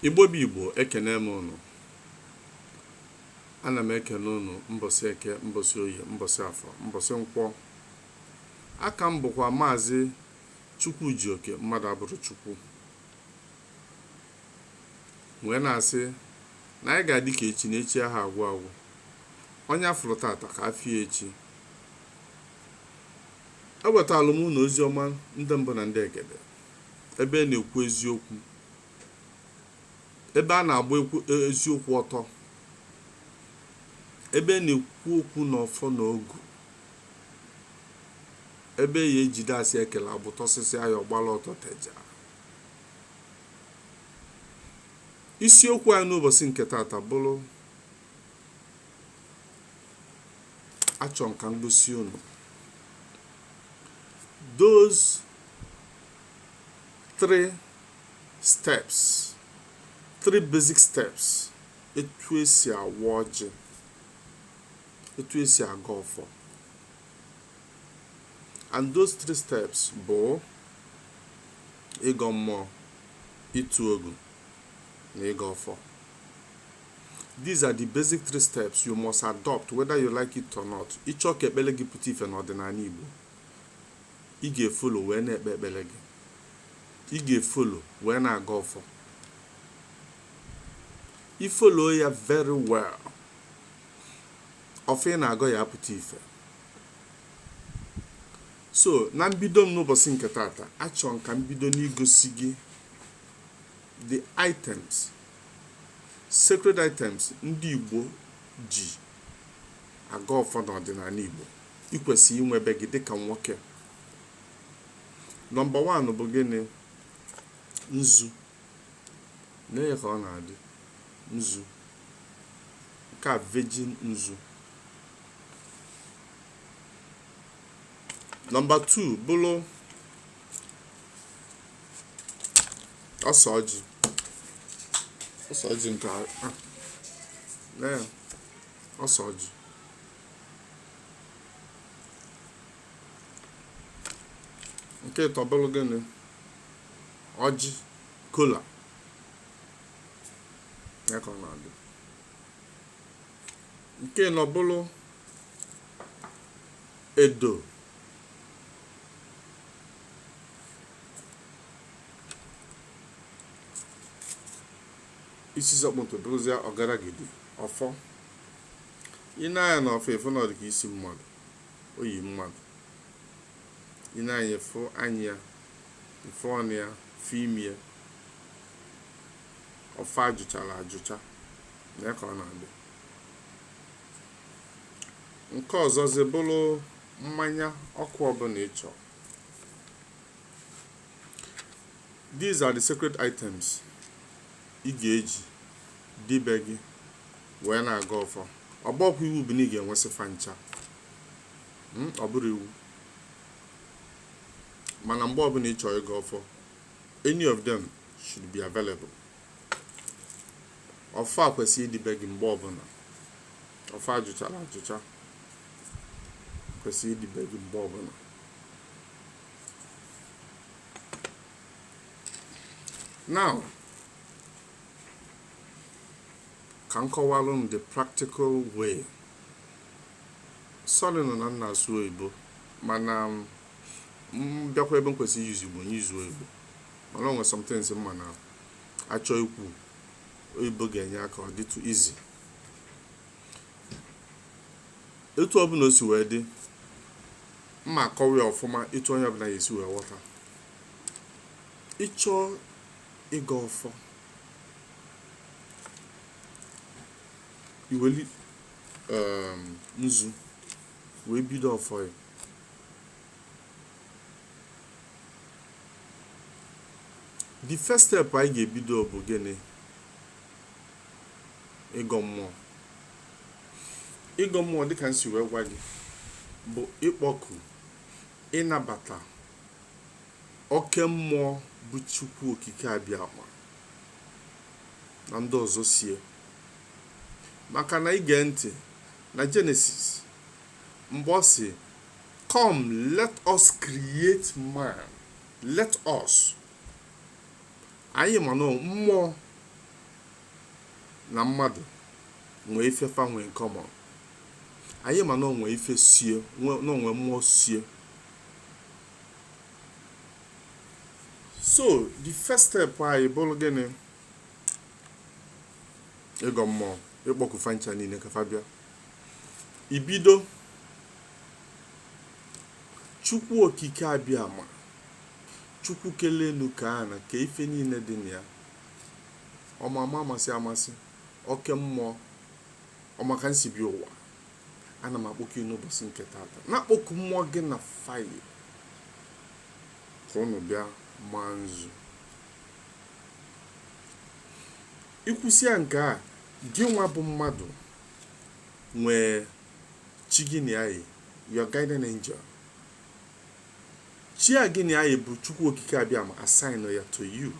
Igbo bụ Igbo ekene m ụnụ ana m ekene ụnụ mbọsị eke mbọsị oye mbọsị afọ mbọsị nkwọ a ka m bụkwa maazị Chukwujioke mmadụ abụrọ Chukwu wee na-asị na anyị ga-adị ka echi na echi aha agwụ agwụ onye a fụrụ tata ka a fụ ya echi ewetala m ụnụ ozi ọma ndị mbụ na ndị egede ebe a na-ekwu eziokwu, ebe a na-agba ekwu e, eziokwu ọtọ, ebe a na-ekwu okwu n'ọfọ na ogu, ebe e ya-ejide asị e kele agbụ tọsịsịa ya ọ gbala ọtọ teja. Isiokwu anyị n'ụbọsị nke tata bụrụ achọ m ka m gosi unu those three steps three basic steps etu e si awa ọjị etu e si agọ ọfọ and those three steps bụ ịgọ mmụọ ịtụ ogu na ịgọ ọfọ these are the basic three steps you must adopt whether you like it or not ị chọọ ka ekpele gị pụta ife n'ọdịnanị Igbo Ị ga-efolo wee na-ekpe ekpele gị. Ị ga-efolo wee na-agọ ọfọ. I follow ya very well. Ọfọ ị na-agọ ya-apụta ife. So na mbido m n'ụbọsị nke tata, achọ m ka m bido n'igosi gị the items, sacred items ndị Igbo ji agọ ọfọ n'ọdịnanị Igbo. i kwesịrị inwe be gị dịka nwoke number one bụ gịnị nzu nee ka ọ na-adị nzu nke a virgin nzu number 2 bụrụ ose ọjị ose ọjị nke a nee ose ọjị nke ịtọ bụrụ gịnị ọjị kola ya ka ọ na-adị nke ịnọ bụrụ edo isi sekpụ ntị bụrụzịa ọgaragidi ọfọ i nee anya n'ọfọ ị fụ na ọ dị ka isi mmadụ o yi mmadụ i nee anya ị fụ anya ya ị fụ ọnụ ya ị fụ imi ya ọfọ a jụchara ajụcha na ya ka ọ na-adị nke ọzọzi bụrụ mmanya ọkụ ọbụla ị chọrọ these are the sacred items ị ga-eji dị be gị wee na-agọ ọfọ ọ bụkwa iwu bụ na ị ga-enwesị fa ncha hmm, ọ bụrọ iwu mana mgbe ọbụla ị chọọ ịgọ ọfọ any of them should be available ọfọ a kwesịrị ịdị be gị mgbe ọbụla ọfọ a jụchara ajụcha kwesịrị ịdị be gị mgbe ọbụla now ka m kọwalụ m the practical way sorry nụ na m na-asụ oyibo mana m bịakwa ebe m kwesịrị use igbo m use oyibo mana o nwe some things m ma na-achọ ikwu oyibo ga-enye aka ọ dịtụ easy etu ọbụla o si wee dị m ma akọwa ya ọfụma etu onye ọbụla ya-esi wee ghọta ị chọọ ịgọ ọfọ i weli um, nzu wee bido ọfọ ya the first step anyị ga-ebido bụ gịnị ịgọ mmụọ ịgọ mmụọ dịka m si wee gwa gị bụ ịkpọku ịnabata oke mmụọ bụ Chukwu Okike Abịama na ndị ọzọ so ya maka na i gee ntị na Genesis mgbe ọ sị come let us create man let us anyị ma na mmụọ na mmadụ nwee ife fa nwe in common anyị ma na o nwe ife so ya na o nwe mmụọ so ya so the first step anyị bụrụ gịnị ịgọ mmụọ ịkpọku fa ncha niile ka fa bịa i bido chukwu okike abịama chukwu kelu enu ka ana ka ife niile dị na ya ọmama amasị amasị oke mmụọ ọmaka nsibi ụwa ana m akpọku gị n'ụbọchị nke tata na-akpọku mmụọ gị na fa yi ka ụnụ bịa maa nzu ikwusịa nke a gị nwa bụ mmadụ nwee chi gị na ya yi your guardian angel chi a gị na ya yi bụ chukwu okike abịama assign ya to you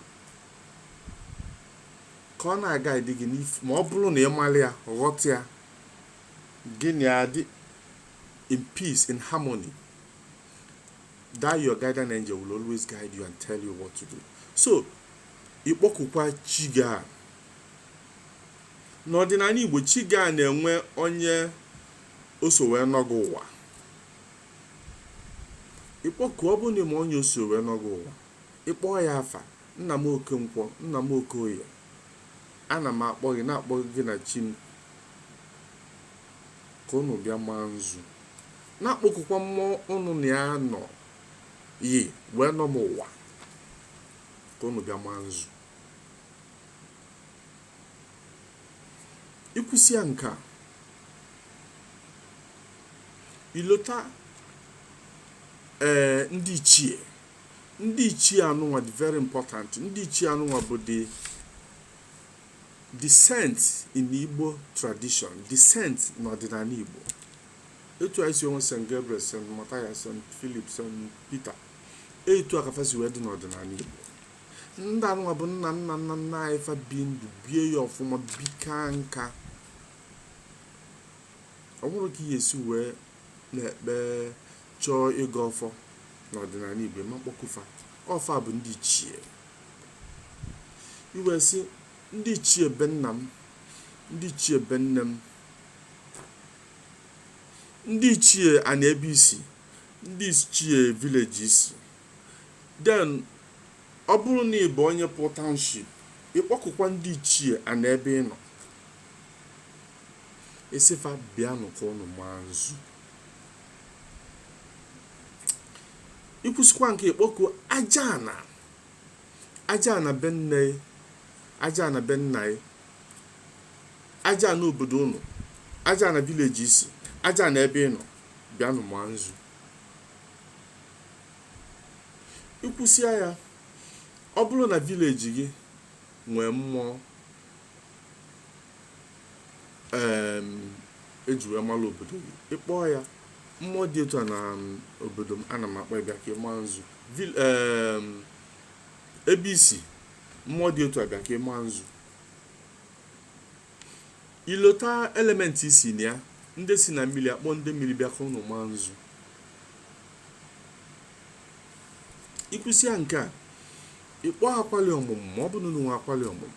ka ọ na-aguard gị n'ife ma ọ bụrụ na ị mara ya ghọta ya Gị na ya adị in peace, in harmony. That your guardian angel will always guide you and tell you what to do. So, ịkpọkukwa chi gị a. N'ọdịnala Igbo, chi gị a na-enwe onye o so wee nọ gị ụwa. Ịkpọku ọ bụrụ na ị ma onye o so wee nọ gị ụwa, ịkpọọ ya afa, nna m Okenkwọ, nna m Okoye, Ana m akpọ gị, na-akpọ gị gị na chi m, ka ụnụ bịa maa nzu. Na-akpọkukwa mmụọ ụnụ na ya nọ yi wee nọ m ụwa, ka ụnụ bịa maa nzu. Ikwusịa nke a, ilota ee ndị ichie ndị ichie anụnwa dị very important ndị ichie anụnwa bụ the saints in igbo tradition the saints n'ọdịnala igbo etu anyị si enwe st gabriel st mathias st philip st peter etu a ka fa si wee dị n'ọdịnala igbo ndị anụnwa bụ nna nna nna nna anyị fa bi ndụ bie ya ọfụma bikaa nka ọ bụrụ ka ihe esi wee na-ekpe chọọ ịgọ ọfọ n'ọdịnala Igbo, ịma kpọku fa. Ọ fa bụ ndị ichie. I wee sị ndị ichie be nna m, ndị ichie be nne m, ndị ichie ana ebe i si, ndị ichie village i si. Then ọ bụrụ na ị bụ onye pụọ township, ịkpọkukwa ndị ichie ana ebe ị nọ. Ị sị fa bịanụ ka ụnụ maa nzu. ikwusikwa nke ịkpọkuo aja ana aja ana be nne aja ana be nna ya aja ana obodo ụnụ aja ana village i si aja ana ebe ị nọ bịanụ maa nzu ikwusịa ya ọ bụrụ na village gị nwee mmụọ em eji wee mara obodo gị ị kpọọ ya mmụọ dị etu a na um, obodo m ana m akpọ ya bịa ka ị maa nzu Vil- em, ebe i si mmụọ dị etu a bịa ka ị maa nzu i lota element i si na ya ndị si na mmili akpọ ndị mmili bịa ka unu maa nzu i kwusịa nke a ị kpọọ akwali ọmụmụ ma ọ bụ na unu nwe akwali ọmụmụ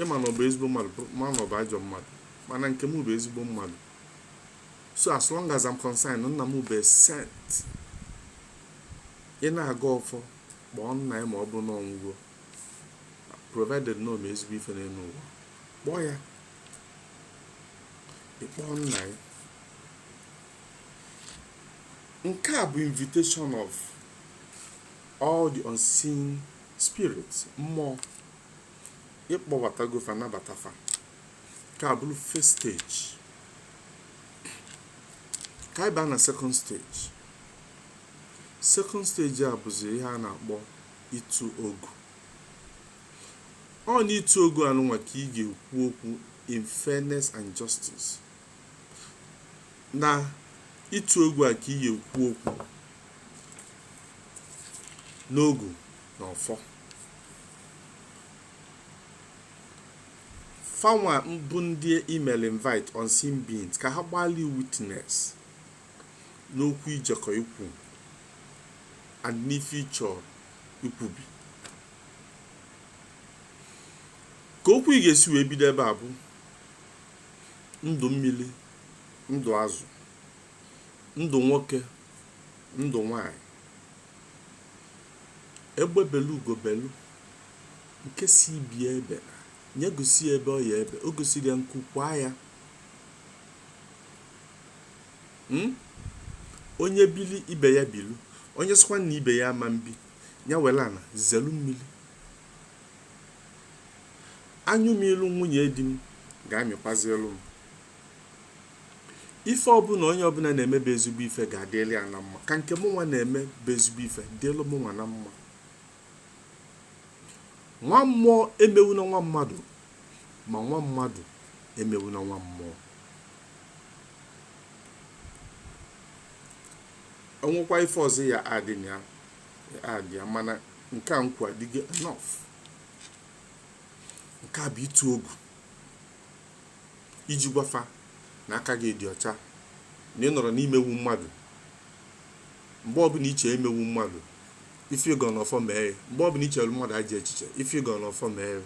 ịma na ọ bụ ezigbo mmadụ ma na ọ bụ ajọ mmadụ mana nke m bụ ezigbo mmadụ so as long as I'm concerned nna m bụ saint ị na-agọ ọfọ kpọọ nna gị ma ọ bụ na ọ nwụgo provided na o mee ezigbo ife n'elu ụwa kpọọ ya ị kpọọ nna gị nke a bụ invitation of all the unseen spirit mmụọ ị kpọbatago fa nabata fa nke a bụrụ first stage ka anyị baa na second stage second stage a bụzi ihe a na-akpọ ịtụ ogu ọ na ịtụ ogu anụnwa ka ị ga-ekwu okwu in fairness and justice na ịtụ ogu a ka ị ga-ekwu okwu n'ogu na ọfọ fanwa bụ ndị i melu invite unseen beings ka ha gbaalị witness n'okwu i jekọ ikwu and n'ife ị chọ ikwubi ka okwu ị ga-esi wee bido ebe a bụ ndụ mmili ndụ azụ ndụ nwoke ndụ nwanyị egbe belu ugo belu nke sị ibe ya ebena ya gosi ya ebe ọ ya-ebe o gosighị ya nku kwaa ya hmm? onye bili ibe ya bilu onye sịkwa na ibe ya ama mbi ya welu ana zelu mmili anyụ mịlụ nwunye di m ga-amịkwazịlụ m ife ọbụla onye ọbụla na-eme bụ ezigbo ife ga-adịlị ya na mma ka nke mụ nwa na-eme bụ ezigbo ife dịlị mụ nwa na mma nwa mmụọ emewuna nwa mmadụ ma nwa mmadụ emewuna nwa mmụọ o nwekwa ife ọzọ ya-adị ya mana nke a nkwa adịgo enough nke a bụ ịtụ ogu iji gwa fa na aka gị dị ọcha, na ị nọrọ n'imegbu mmadụ. Mgbe ọbụla i chee imegbu mmadụ, ife ị gọrọ n'ọfọ mee ya. Mgbe ọbụla i chelu mmadụ ajọ echiche, ife ị gọrọ n'ọfọ mee ya.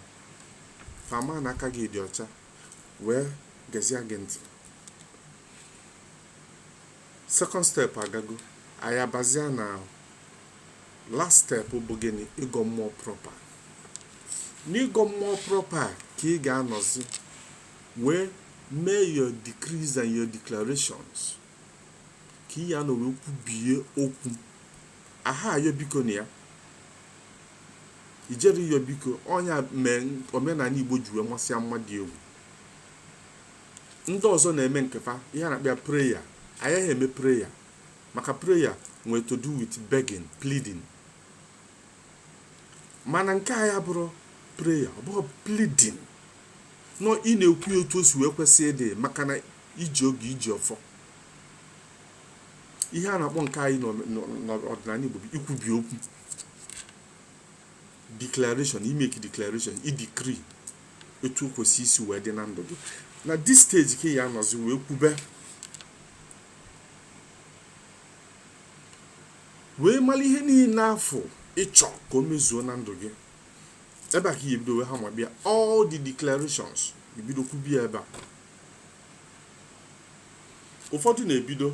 Fa ama na aka gị dị ọcha, wee gezie gị ntị. second step agago anyị abazia na last step bụ gịnị ịgọ mmụọ proper n'ịgọ mmụọ proper ka ị ga-anọzi wee mee your decrees and your declarations ka ị ya-anọ wee kwubie okwu aha ayọ biko na ya i jero ịyọ biko ọ nya mee omenala igbo ji wee masịa mmadụ egwu ndị ọzọ na-eme nke fa ihe a na-akpọ ya prayer anyị aha eme prayer maka prayer nwere to do with begging pleading mana nke anyị abụrọ prayer ọ bụghị pleading no ị na-ekwu ya otu o si wee kwesị ịdị maka na i ji ogu i ji ọfọ ihe a na-akpọ nke anyị n'ọ- n'ọ- n'ọdịnala Igbo bụ ikwubi okwu declaration i make declaration i decree etu o kwesị isi wee dị na ndụ gị na this stage ka ị ya-anọzi wee kwube wee mara ihe niile afụ ị chọ ka o mezuo na ndụ gị ebe a ka ị ya-ebido wee ha ma bịa all the declarations ebido kwubie ebe a ụfọdụ na-ebido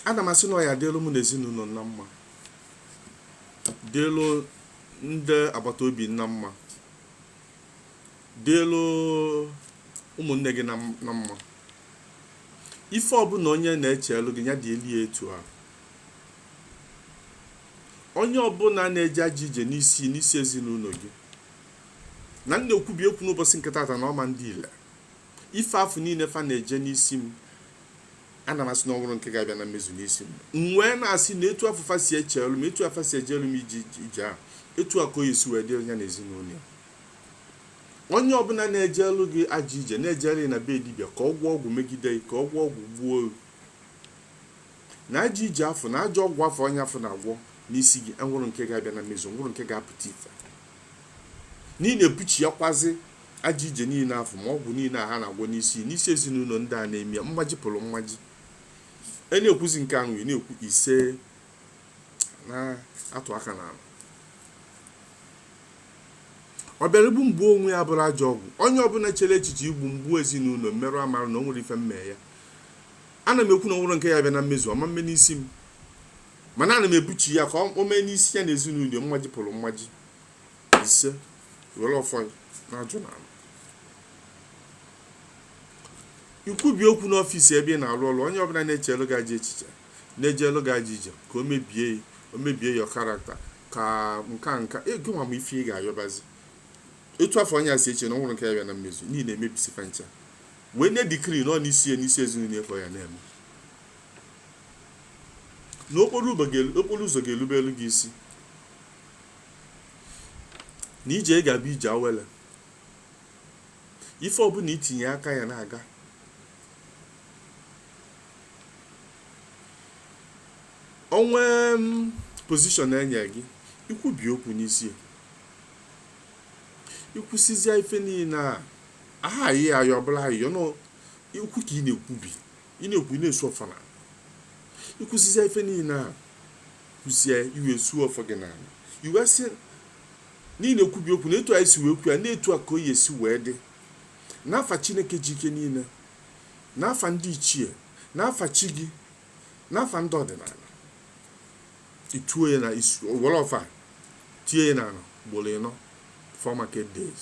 ana m asị na ọ ya-adịlụ m na ezinụlọ na mma dịlụ ndị agbata obi na mma dịlụ ụmụnne gị na mma ife ọbụla onye na-echelu gị ya dịlụ ya etu a onye ọbụla na-eje ajọ ije n'isi n'isi ezinụlọ gị na m na-ekwubi ekwu n'ụbọchị nke tata na ọ ma ndị ile ife afụ niile fa na-eje n'isi m Ana m asị na o nwero nke ga-abịa na mmezu n'isi m. M wee na-asị na etu afụ fa si echelu m, etu a fa si ejelu m ajọ ije a, etu a ka ọ ya-esi wee dịrị ya na ezinụlọ ya. Onye ọbụla na-ejelu gị ajọ ije, na-ejere ya na be dibịa ka ọ gwọọ ọgwụ megide gị, ka ọ gwọọ ọgwụ gbuo gị. Na ajọ ije afụ, na ajọ ọgwụ afụ onye afụ na-agwọ n'isi gị, enwero nke ga-abịa na mmezu, enwero nke ga-apụta ife. N'ihi na-ebuchiakwazi Ajọ ije niile afụ ma ọgwụ niile a ha na-agwọ n'isi n'isi ezinụlọ ndị a na-eme ya mmaji kwulu mmaji ị na-ekwuzi nke ahụ ị na-ekwu ise na-atụ aka n'ala ọ bịara igbu m gbuo onwe ya bụrụ ajọ ọgwụ onye ọbụla chere echiche igbu m gbuo ezinụlọ m merụ amara na o nwere ife m mee ya ana m ekwu na o nwero nke ya-abịa na mmezu ọ ma mme n'isi m mana ana m ebuchi ya ka o mee n'isi ya na ezinụlọ mmaji kwulu mmaji ise were ọfọ ya na-ajụ n'ala ikwubi okwu n'ọfịs ebe ị na-arụ ọrụ onye ọbụla na-echere gị ajọ echiche na-ejelu gị ajọ ije ka o mebie ya o mebie ya karakta ka nke nke ego nwa ma ife ị ga-ayọbazi etu afụ onye a si eche na o nweru nke ya bịa na mmezu niile emebisi fa ncha wee nye dikri nọ n'isi ya n'isi ezinụlọ ịkọ ya na-eme na okporo ụzọ ga- okporo ụzọ ga-erubelu gị isi na ije ị ga-abụ ije awele ife ọbụla i tinye aka ya na-aga o nwee pozishọn enye gị ikwubi okwu n'isi ya ikwusizie ife niile ahụ ayịyọ ọbụla ayịyọ nọ ikwu ka ị na-ekwubi ị na-ekwu ị na-esu ọfọ n'ala ikwusizie ife niile ahụ kwusie i wee suo ọfọ gị n'ala i wee sị na ị na-ekwubi okwu na etu anyị si wee kwu ya na etu a ka ọ ya-esi wee dị n'afa chineke ji ike niile n'afa ndị ichie n'afa chi gị n'afa ndị ọdịnala i tuo ya na were ọfọ a tie ya n'ala ugboro ịnọ four market days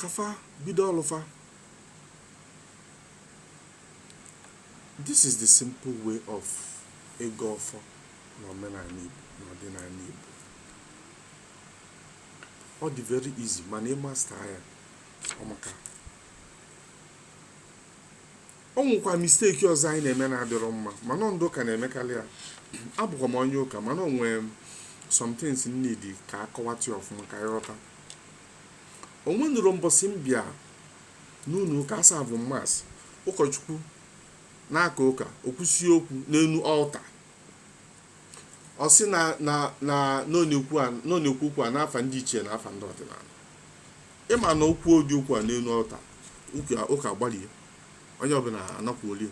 ka fa bido ọlụ fa. This is the simple way of ịgọ ọfọ na omenala Igbo na ọdịnala Igbo. Ọ dị very easy mana ị master ya ọmaka. O nwekwa mistake ọzọ anyị na-eme na-adịrọ mma mana ọ ndị ụka na-emekarị ya. Abụkwa m onye ụka mana o nwee some things m need ka a kọwatụ ya ọfụma ka ị ghọta. o nwenụrọ mbọsị m bịa n'ụlọụka a serve mass, ụkọchukwu na-aka ụka, o kwusie okwu n'elu ọlta. Ọ sị na na na na ọ na-ekwu a- na ọ na-ekwu okwu a n'afa ndị ichie na afa ndị ọdịnala. Ị ma na o kwuo ụdị okwu a n'elu ọlta, ụka agbalie, onye ọbụla anakwuolie.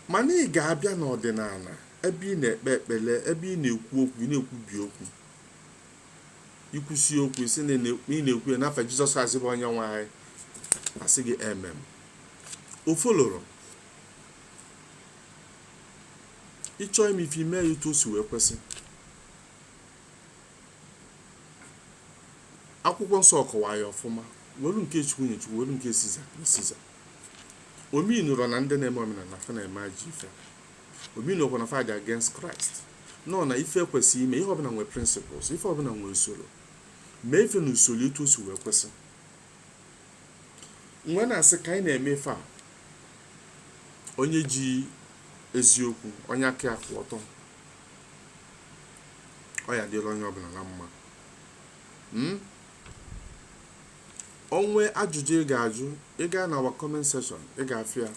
Mana ị ga-abịa n'ọdịnala ebe ị na-ekpe ekpere, ebe ị na-ekwu okwu, ị na-ekwubi okwu. i kwusie okwu ị sị na ị na-ekwu ya n'afa jizọs kraịst bụ onye nwe anyị a sị gị amen o foloro ị chọọ ime ife i mee ya etu o si wee kwesị akwụkwọ nsọ kọwaa ya ọfụma welu nke chukwu nye chukwu welu nke siza nye siza o meanụrọ na ndị na-eme omenala fa na-eme ajọ ife Ọ bụrọkwa na fa dị against Christ. No, na ife e kwesị ime, ihe ọbụla nwere principles, ife ọbụla nwere usoro. Mee ife na usoro etu o si wee kwesị. M wee na-asị ka anyị na-eme ife a, onye ji eziokwu, onye aka ya kwụ ọtọ, ọ ya-adịlị onye ọbụla na mma. Mm? o nwee ajụjụ ị ga-ajụ ị gaa na our comment section ị ga-afụ ya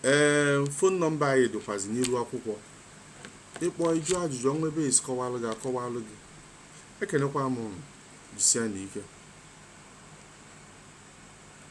ee phone nọmba anyị dịkwazi n'iru akwụkwọ ị kpọọ ị jụọ ajụjụ o nwee ebe a sị kọwalụ gị a kọwalụ gị ekenekwa m unu jisianụ ike